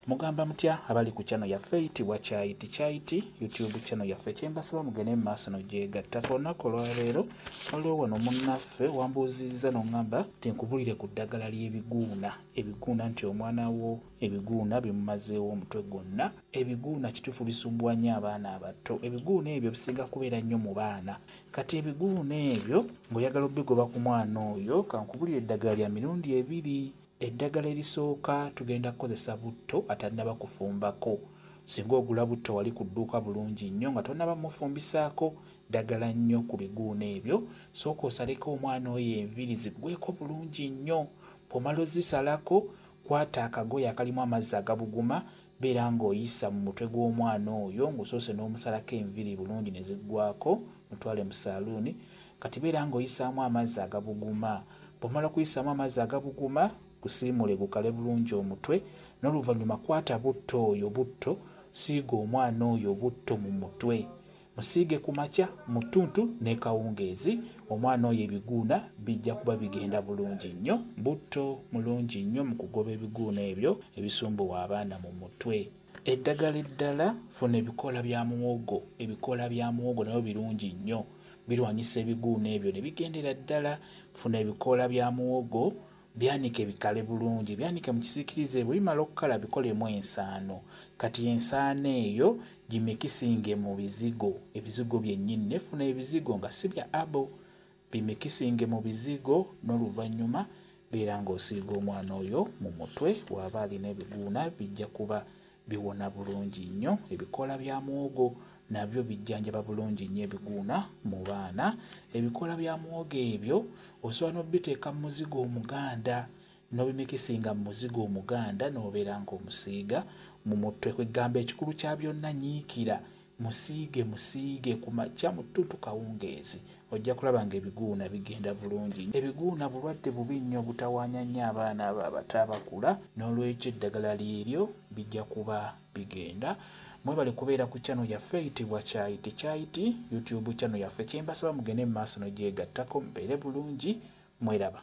Mugamba mutya abali ku channel yaffe eyitibwa Kyayiti Kyayiti YouTube channel yaffe kyembasaba mugende mu maaso nogyegatta ku lunaku olwaleero waliwo wano munnaffe wambuuzizza nongamba tinkubulire ku ddagala ly'ebiguuna ebiguuna nti omwana wo ebiguuna bimumazeewo omutwe gwonna ebiguuna kituufu bisumbuwa nnyo abaana abato ebiguuna ebyo bisinga kubeera nnyo mu baana kati ebiguuna ebyo ng'oyagala obigoba ku mwana oyo kankubulire eddagala lya mirundi ebiri Eddagala erisooka tugenda kukozesa butto atannaba kufumbako. Singa ogula butto wali ku dduuka bulungi nnyo nga tonnaba mufumbisaako ddagala nnyo ku biguuno ebyo, sooka osaleko omwana oyo enviiri ziggweeko bulungi nnyo. Bw'omala ozisalako, kwata akagoye akalimu amazzi agabuguma Beera ng'oyisa mu mutwe gw'omwana oyo ng'osoose n'omusalako enviri bulungi ne ziggwaako, mutwale mu saaluuni. Kati beera ng'oyisaamu amazzi agabuguma. Bw'omala okuyisaamu amazzi agabuguma, gusiimuule gukale bulungi omutwe n'oluvannyuma kwata butto oyo butto, siiga omwana oyo butto mu mutwe. Musiige ku makya, mu ttuntu n'ekawungeezi omwana oyo ebiguuna bijja kuba bigenda bulungi nnyo. Butto mulungi nnyo mu kugoba ebiguuna ebyo ebisumbuwa abaana mu mutwe. Eddagala eddala, funa ebikoola bya muwogo. Ebikoola bya muwogo nabyo birungi nnyo, birwanyisa ebiguuna ebyo ne bigendera ddala. Funa ebikoola bya muwogo Byanike bikale bulungi, byanike mu kisiikirize. Bwe bimala okukala bikolemu ensaano. Kati ensaano eyo gimikisinge mu bizigo, ebizigo byennyini. Naye funa ebizigo nga si bya abo, bimikisinge mu bizigo n'oluvannyuma beera ng'osiiga omwana oyo mu mutwe. Waaba alina ebiguuna bijja kuba Biwona bulungi nnyo. Ebikoola bya muwogo nabyo bijjanjaba bulungi nnyo ebiguuna mu baana. Ebikoola bya muwogo ebyo osobola n'obiteeka mu muzigo omuganda n'obimikisinga mu muzigo omuganda n'obeera ng'omusiiga mu mutwe. Kwe ggamba ekikulu kya byonna nyiikira Musiige musiige ku makya, mu ttuntu kawungeezi, ojja kulaba ng'ebiguuna bigenda bulungi. Ebiguuna bulwadde bubi nnyo obutawaanya nnyo abaana abo abato abakula, noolwekyo eddagala lyeryo bijja kuba bigenda. Mwebale kubeera ku channel yaffe eyitibwa Kyayi Tekyayiti, YouTube channel yaffe. Kye mbasaba mugende mu maaso n'ogyegattako mubeere bulungi. Mweraba.